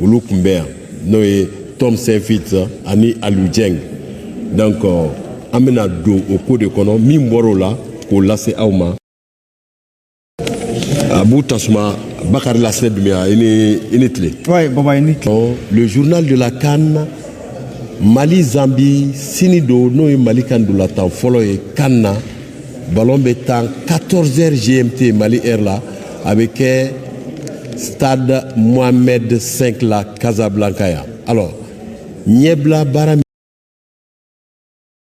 olu kun bɛ yan n'o ye tom saintfiet ani aliou dieng donc euh, an bɛna don o ko de kɔnɔ min bɔr'o la k'o lase aw ma abu tasuma bakari lasinɛ dumbiya i ni i ni tile ouais, baba, i ni tile. le journal de la CAN mali zambi sini don n'o ye mali ka ndolatan fɔlɔ ye CAN na ballon bɛ tan 14 heures gmt mali heure la a bɛ kɛ stade mohamed 5 la casablanca yan alors ɲɛbila baara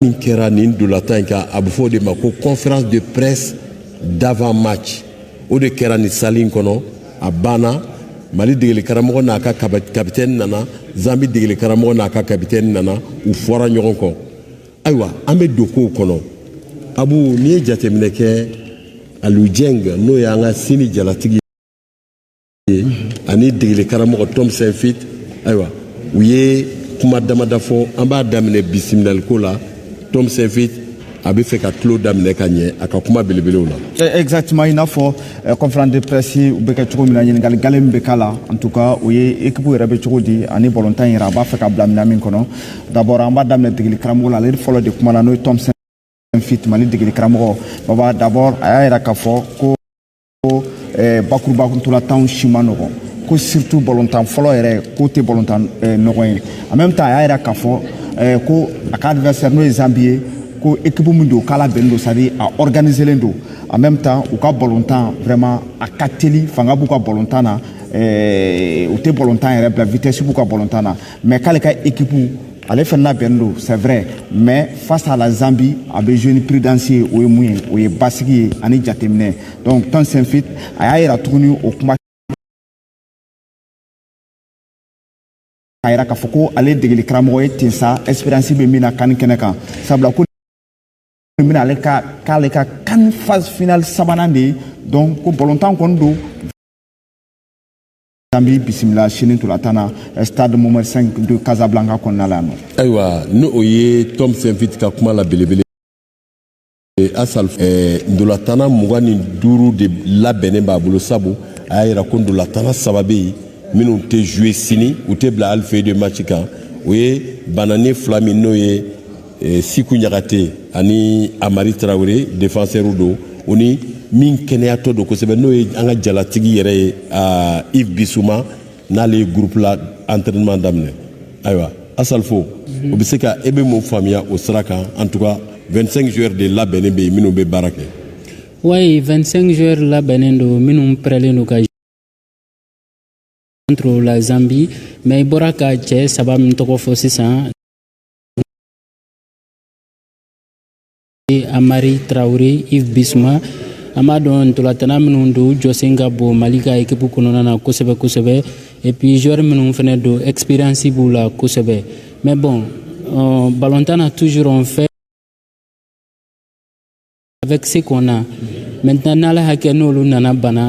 min kɛra nin ndolatan in kan a bɛ fɔ o de ma ko conférence de presse d'avant match o de kɛra nin salle in kɔnɔ a banna mali degeli karamɔgɔ n'a ka kapitɛni nana zambi degeli karamɔgɔ n'a ka kapitɛni nana u fɔra ɲɔgɔn kɔ ayiwa an bɛ don kow kɔnɔ abu n'i ye jateminɛ kɛ aliou dieng n'o y'an ka sini jalatigi ye ani degeli karamɔgɔ tom saintfiet ayiwa u ye kuma damada fɔ an b'a daminɛ bisimilaliko la tom saintfiet a bɛ fɛ ka tulon daminɛ ka ɲɛ a ka kuma belebelew la. Eh, exactement i n'a fɔ eh, conférence de presse bɛ kɛ cogo min na ɲininkali gale min bɛ k'a la en tout cas o ye équipe yɛrɛ bɛ cogo di ani balontan yɛrɛ a b'a fɛ k'a bila minɛn min kɔnɔ D'abord an b'a daminɛ degeli karamɔgɔ la ale fɔlɔ de kumana n'o ye tom saintfiet mali degeli karamɔgɔ baba d'abord a y'a yira k'a fɔ ko eh, bakuruba ko ntolatanw si man nɔgɔn ko surtout balontan fɔlɔ yɛrɛ k'o tɛ balontan eh, nɔgɔn ye en même temps a y'a yira k'a fɔ eh, ko a ka adversaire n'o ye zambi ye ko équipe min don k'a labɛnnen don c'est-à-dire a organiselen don en même temps u ka balontan vraiment a ka teli fanga b'u ka balontan na eh, u tɛ balontan yɛrɛ bila vitesse b'u ka balontan na mais k'ale ka équipe ale fɛnɛ labɛnnen don c'est vrai mais face à la zambie a bɛ jouer ni prudence ye o ye mun ye o ye basigi ye ani jateminɛ donc tom saintfiet a y'a yira tuguni o kuma a yira k'a fɔ ko ale degeli karamɔgɔ ye ten sa expérience bɛ min na CAN kɛnɛ kan sabula ko bɛna ale ka k'ale ka CAN phase finale sabanan de ye donc ko balontan kɔni don zambi bisimila sini ntolatan na eh, stade mohamed 5 de casablanca kɔnɔna la yan nɔ ayiwa ni o ye tom saintfiet ka kuma la belebele eh, asal eh, ndolatana mugan ni duuru de labɛnnen b'a bolo sabu a y'a yira ko ndolatana saba bɛ yen minnu tɛ jouer sini u tɛ bila hali feuille de match kan o ye bananen fila min n'o ye e, siku ɲagate ani Amari Traoré défenseur don o ni min kɛnɛyatɔ don kosɛbɛ n'o ye an ka jalatigi yɛrɛ ye Yves Bissouma n'ale ye gurupu la entraînement daminɛ ayiwa asalfo o bɛ se ka e bɛ mun faamuya o sira kan en tout cas 25 joueurs de labɛnnen bɛ yen minnu bɛ baara kɛ wayi 25 joueurs labɛnnen don minnu pɛrɛlen don ka contre la Zambie mais i bɔra ka cɛ saba min tɔgɔ fɔ sisan Amari Traore Yves Bissouma an b'a dɔn ntolatana minnu don jɔsen ka bon mali ka ekipu kɔnɔna na kosɛbɛ kosɛbɛ et puis joueur minnu fɛnɛ don expérience b'u la kosɛbɛ mais bon euh, ballontan na toujours on fait avec ce qu'on a maintenant n'ala hakɛ n'olu nana bana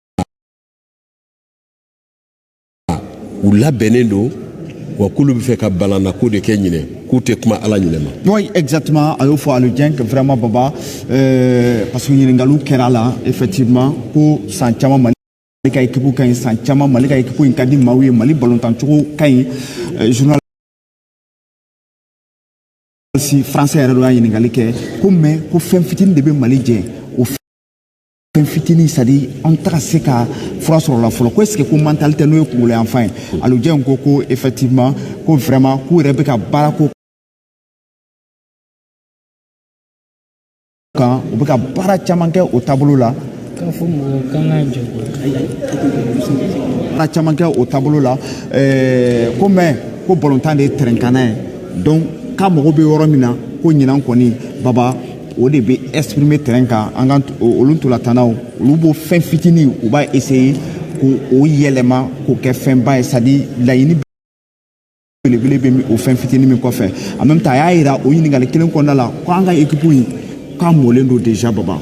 u labɛnnen don wa k'olu b'a fɛ ka balannako de kɛ ɲinɛ k'u tɛ kuma ala ɲinɛ ma. oui exactement a y'o fɔ Aliou Dieng que vraiment baba euh, parce que ɲininkaliw kɛra a la effectivement ko san caman mali ka ekipu ka ɲi san caman mali ka ekipu in ka di maaw ye mali balontancogo ka ɲi euh, journaliste français yɛrɛ dɔ y'a ɲininkali kɛ ko mais ko fɛn fitini de bɛ mali jɛ fɛn fitinin c'est à dire an tɛ ka se ka fura sɔrɔ la fɔlɔ ko est ce que ko mentalité n'o ye kungolo yanfan ye Aliou Dieng ko ko effectivement ko vraiment k'u yɛrɛ bɛ ka baara k'o kan u bɛ ka baara caman kɛ o taabolo la baara caman kɛ o taabolo la ko mais ko balontan de ye terrain kanna ye donc k'a mago bɛ yɔrɔ min na ko ɲinan kɔni baba o de bɛ exprimer terrain kan an ka olu ntolatannaw olu b'o fɛn fitinin u b'a essayer k'o yɛlɛma k'o kɛ fɛnba ye c'est à dire laɲini belebele bɛ o fɛn fitinin min kɔfɛ en même temps a y'a yira o ɲininkali kelen kɔnɔna la ko an ka ekipu in k'a mɔlen don déjà baba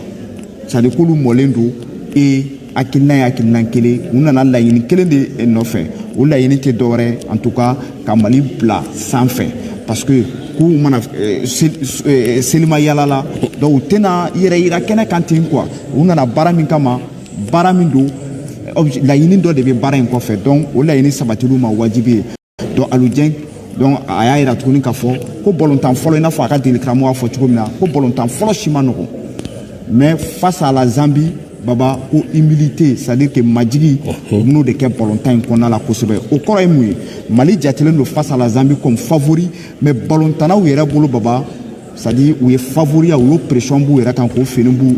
c'est à dire k'olu mɔlen don ee hakilina ye hakilina kelen u nana laɲini kelen de eh, nɔfɛ o laɲini tɛ dɔwɛrɛ en tout cas ka mali bila sanfɛ parce que k'u ma na eh, eh, selima yaala la donc u tɛna yɛrɛ yira kɛnɛ kan ten quoi u nana baara min kama baara min don laɲini dɔ de bɛ baara in kɔfɛ donc o laɲini sabatili y'u ma wajibi ye donc Aliou Dieng donc a y'a yira tuguni k'a fɔ ko bɔlɔntan fɔlɔ i n'a fɔ a ka degeli karamɔgɔ y'a fɔ cogo min na ko bɔlɔntan fɔlɔ si ma nɔgɔn mais face à la zambie baba ko humilité c'est à dire que majigi u bɛn'o de kɛ bɔlɔntan in kɔnɔna la kosɛbɛ o kɔrɔ ye mun ye mali jatelen don face à la zambie comme favori mais bɔlɔntannaw yɛrɛ bolo baba c'est-à-dire u ye favoriya u y'o pression b'u yɛrɛ kan k'o fini b'u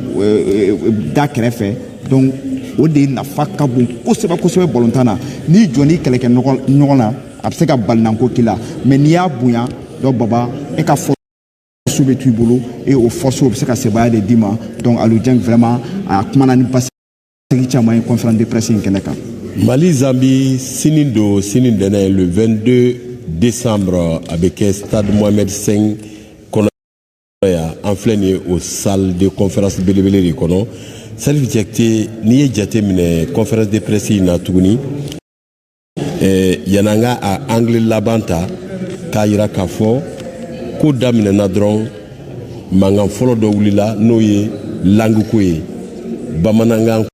da kɛrɛfɛ donc o de nafa ka bon kosɛbɛ kosɛbɛ balontan na n'i jɔnn'i kɛlɛkɛɲɔgɔn na a bɛ se ka balinanko k'i la mais n'i y'a bonya donc baba e ka force bɛ t'i bolo et o force o bɛ se ka sebaaya de d'i ma donc aliou dieng vraiment a kumana ni basi sigi caman ye conférence de presse in kɛnɛ kan mali zambi sini don sini tɛnɛn le 22 décembre a bɛ kɛ stade mohamed 5 kɔnɔ yan an filɛ nin ye o salle de conférence belebele de kɔnɔ salif jakite n'i ye jate minɛ conférence de presse in na tuguni eh, yan'an ka a angle laban ta k'a yira k'a fɔ ko daminɛna dɔrɔn mankan fɔlɔ dɔ wulila n'o ye langue ko ye bamanankan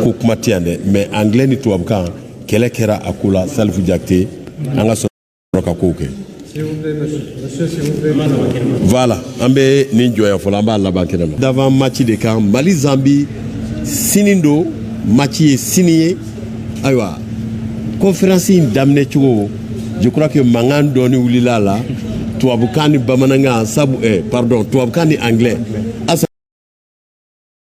ko kuma tɛ yan dɛ mais anglais ni tubabukan kɛlɛ kɛra a ko la salifu jakite an ka ka kow kɛ voilà an bɛ nin jɔ yan fɔlɔ an b'a laban kɛnɛ ma d'avant match de kan mali zambi sini don match ye sini ye ayiwa conférence in daminɛ cogo je crois que mankan dɔɔni wulila a la tubabukan ni bamanankan sabu eh, pardon tubabukan ni anglais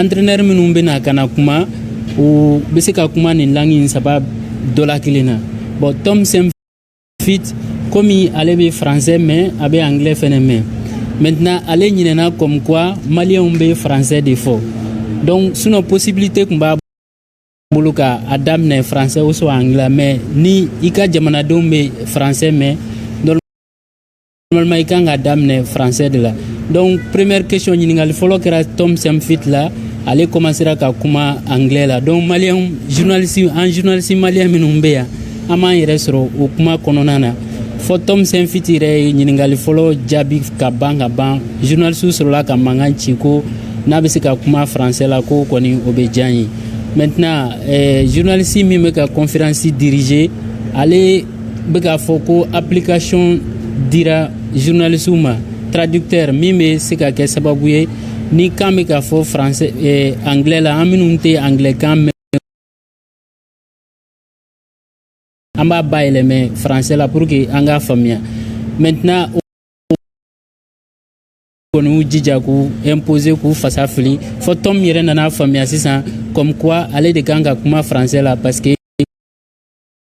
entraîneur minnu bɛ na ka na kuma u bɛ se ka kuma nin langue in saba dɔ la kelen na bon tom saintfiet komi ale bɛ français mɛn a bɛ anglais fɛnɛ mɛn maintenant ale ɲinɛna comme quoi maliyɛnw bɛ français de fɔ donc sinon possibilité kun b'a bolo ka a daminɛ français ou soit anglais mais ni i ka jamanadenw bɛ français mɛn Normalement, i kan ka daminɛ français de la. Donc, première question ɲininkali fɔlɔ kɛra Tom Saintfiet la. Ale commencera ka kuma anglais la. Donc, malien journaliste an journaliste malien minnu bɛ yan, an m'an yɛrɛ sɔrɔ o kuma kɔnɔna na. Fɔ Tom Saintfiet yɛrɛ ye ɲininkali fɔlɔ jaabi ka ban ka ban. Journaliste sɔrɔla ka mankan ci ko n'a bɛ se ka kuma français la ko kɔni o bɛ diy'an ye. Maintenant, eh, journaliste min bɛ ka conférence diriger, ale bɛ k'a fɔ ko application dira journalistew ma traducteur min bɛ se ka kɛ sababu ye ni kan bɛ ka fɔ français eh, anglais la an minnu tɛ anglais kan mɛn an b'a bayɛlɛmɛ français la pour que an k'a faamuya maintenant kɔni y'u jija k'u imposer k'u fasa fili fɔ tom yɛrɛ nana faamuya sisan comme quoi ale de kan ka kuma français la parce que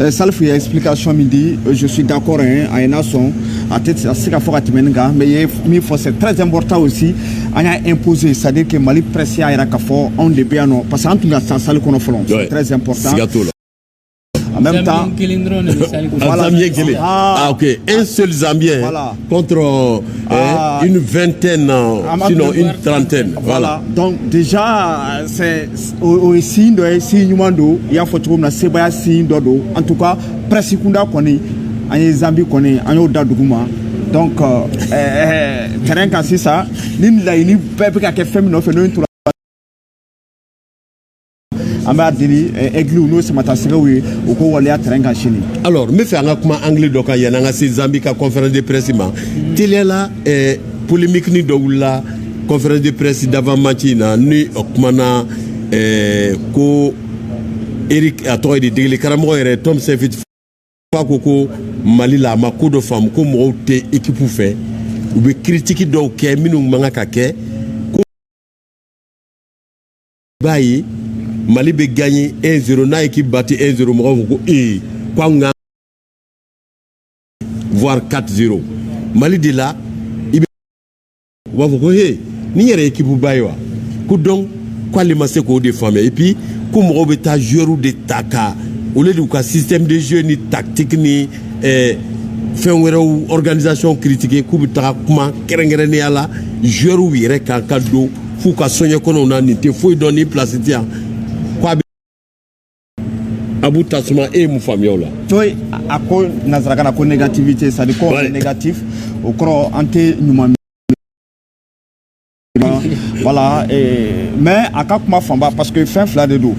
Eh, Salifu ye explication min di eh, je suis d'accord hein, a ye n'a sɔn a tɛna se ka fɔ ka tɛmɛ nin kan mais ye min fɔ c'est très important aussi an y'a imposer c'est à dire que Mali presse y'a yira k'a fɔ anw de bɛ yan nɔ parce que an tun ka ca salle kɔnɔ fɔlɔ c'est très important siga t'o la en même temps voilà. ah, ah, ok un seul Zambien voilà. contre euh, ah, une vingtaine ah, sinon une trentaine voilà. voilà donc déjà c'est o ye signe dɔ ye signe ɲuman don i y'a fɔ cogo min na sebaaya signe dɔ don en tout cas presse kunda kɔni an ye zambi kɔni an y'o da dugu ma donc euh, euh, terrain kan sisan ni laɲini bɛɛ bɛ ka kɛ fɛn min nɔfɛ n'o ye tora an b'a deli ɛgliw n'o samatasɛgɛw ye u k'o waleya terrain kan sini alors n bɛ fɛ an ka kuma anglais dɔ kan yanni an ka se zambi ka conférence de presse ma teliya la polémique nin dɔ wulila conférence de presse d'avant match in na ni o kumana eh, ko eric a tɔgɔ ye di degeli karamɔgɔ yɛrɛ tom saintfiet fɛ ko ko mali la a ma ko dɔ faamu ko mɔgɔw tɛ ekipu fɛ u bɛ kiritiki dɔw kɛ minnu man kan ka kɛ ko i b'a ye mali bɛ gaɲe 1 0 n'a ekipu bati 1 0 mɔgɔw ko ko ee ko anw ka voire 4-0 mali de la i bɛ u b'a fɔ ko he nin yɛrɛ ekipu ba ye wa ko donc k'ale ma se k'o de faamuya et puis ko mɔgɔw bɛ taa joueurs de ta ka au lieu de ka système de jeu ni tactique ni eh, fɛn wɛrɛw organisation critiquer k'u bɛ taga kuma kɛrɛnkɛrɛnnenya la joueurs yɛrɛ kan ka don f'u ka soɲɛ kɔnɔw na nin tɛ foyi dɔn nin place tɛ yan abu tasuma e ye mun faamuya o la bon a ko nansarakan na ko négativité c'est à dire ko négatif o kɔrɔ an tɛ ɲuman miiri voilà et, mais a ka kuma fanba parce que fɛn fila de don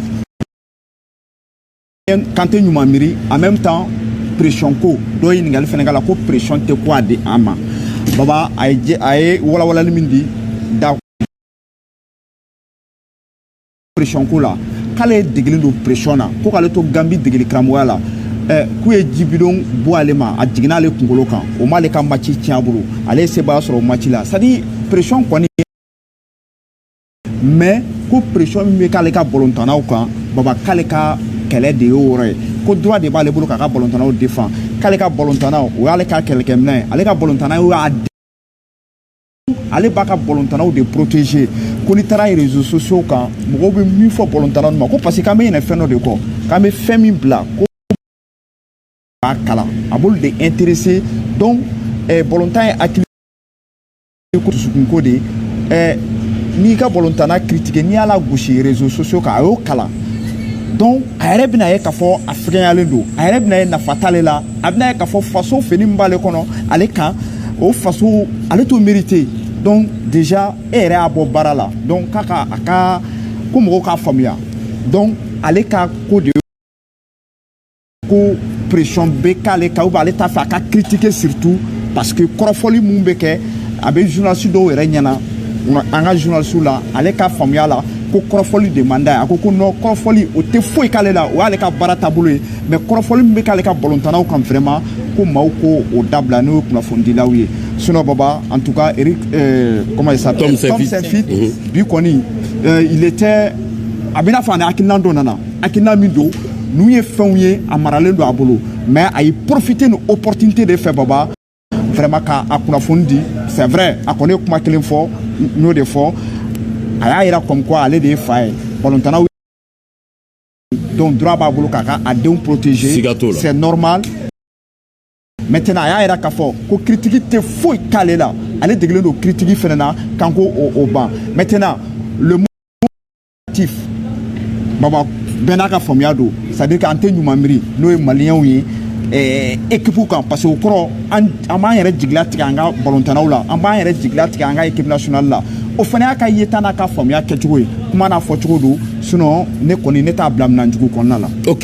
k'an tɛ ɲuman miiri en même temps pression ko dɔ ye ɲininkali fɛnɛ k'a la ko pression tɛ ko a di an ma baba a ye a ye walawalali min di da pression ko la k'ale degelen don pression na ko k'ale to gambi degeli karamɔgɔya la Eh, k'u ye ji bidon bon ale ma a jiginna ale kunkolo kan o m'ale ka maci tiɲɛ a bolo ale ye sebaaya sɔrɔ o maci la c'est à dire pression kɔni mais ko pression min bɛ k'ale ka balontannaw kan baba k'ale ka kɛlɛ de y'o yɔrɔ ye ko droit de b'ale bolo k'a ka balontannaw defan k'ale ka balontannaw o y'ale ka kɛlɛkɛminɛn ye ale ka balontanna y'o y'a ale b'a ka balontannaw de protéger ko n'i taara réseaux sociaux kan mɔgɔw bɛ min fɔ balontanna ninnu ma ko parce que k'an bɛ ɲinɛ fɛn dɔ de kɔ k'an bɛ fɛn min bila k'u b'a kalan a b'olu de intéresser donc eh, balontan ye hakili ko dusukunko de ye eh, n'i ka balontanna critiquer n'i y'a lagosi réseaux sociaux kan a y'o kalan donc a yɛrɛ bɛna ye k'a fɔ a fɛgɛnyalen don a yɛrɛ bɛna ye nafa t'ale la a bɛna ye k'a fɔ faso fini min b'ale kɔnɔ ale kan o faso ale t'o mériter donc déjà e yɛrɛ y'a bɔ baara la donc k'a ka a ka ko mɔgɔw k'a faamuya donc ale ka ko de ko pression bɛ k'ale kan ou bien ale t'a fɛ a ka critiquer surtout parce que kɔrɔfɔli min bɛ kɛ a bɛ journaliste dɔw yɛrɛ ɲɛna an ka journaliste la ale ka faamuya la ko kɔrɔfɔli de man d'a ye a ko ko non kɔrɔfɔli o tɛ foyi k'ale la o y'ale ka baara taabolo ye mais kɔrɔfɔli min bɛ k'ale ka balontannaw kan vraiment ko maaw ko o dabila n'o ye kunnafonidilaw ye sinon baba en tout cas eric euh, comment il s'appelle tom saintfiet mhm. bi kɔni euh, il était a bɛ n'a fɔ a ni hakilinan dɔ nana hakilinan min don n'u ye fɛnw ye a maralen don a bolo mais a ye profiter ni opportunité de fɛ baba vraiment ka a kunnafoni di c'est vrai a kɔni ye kuma kelen fɔ n y'o de fɔ a y'a yira comme quoi ale de ye fa ye balontannaw donc droit b'a bolo k'a ka a denw protéger siga t'o la c'est normal maintenant a y'a yira k'a fɔ ko critique tɛ foyi k'ale la ale degelen don critique fɛnɛ na kan ko o ban maintenant le mot négatif baba bɛɛ n'a ka faamuya don c'est à dire k'an tɛ ɲuman miiri n'o ye maliyɛnw ye eh, équipe kan parce que o kɔrɔ an b'an yɛrɛ jigilatigɛ an ka balontannaw la an b'an yɛrɛ jigilatigɛ an ka équipe nationale la o fana y'a ka yeta n'a ka faamuya kɛcogo ye kuma n'a fɔcogo don sinon ne kɔni ne t'a bila minan jugu kɔnɔna la ok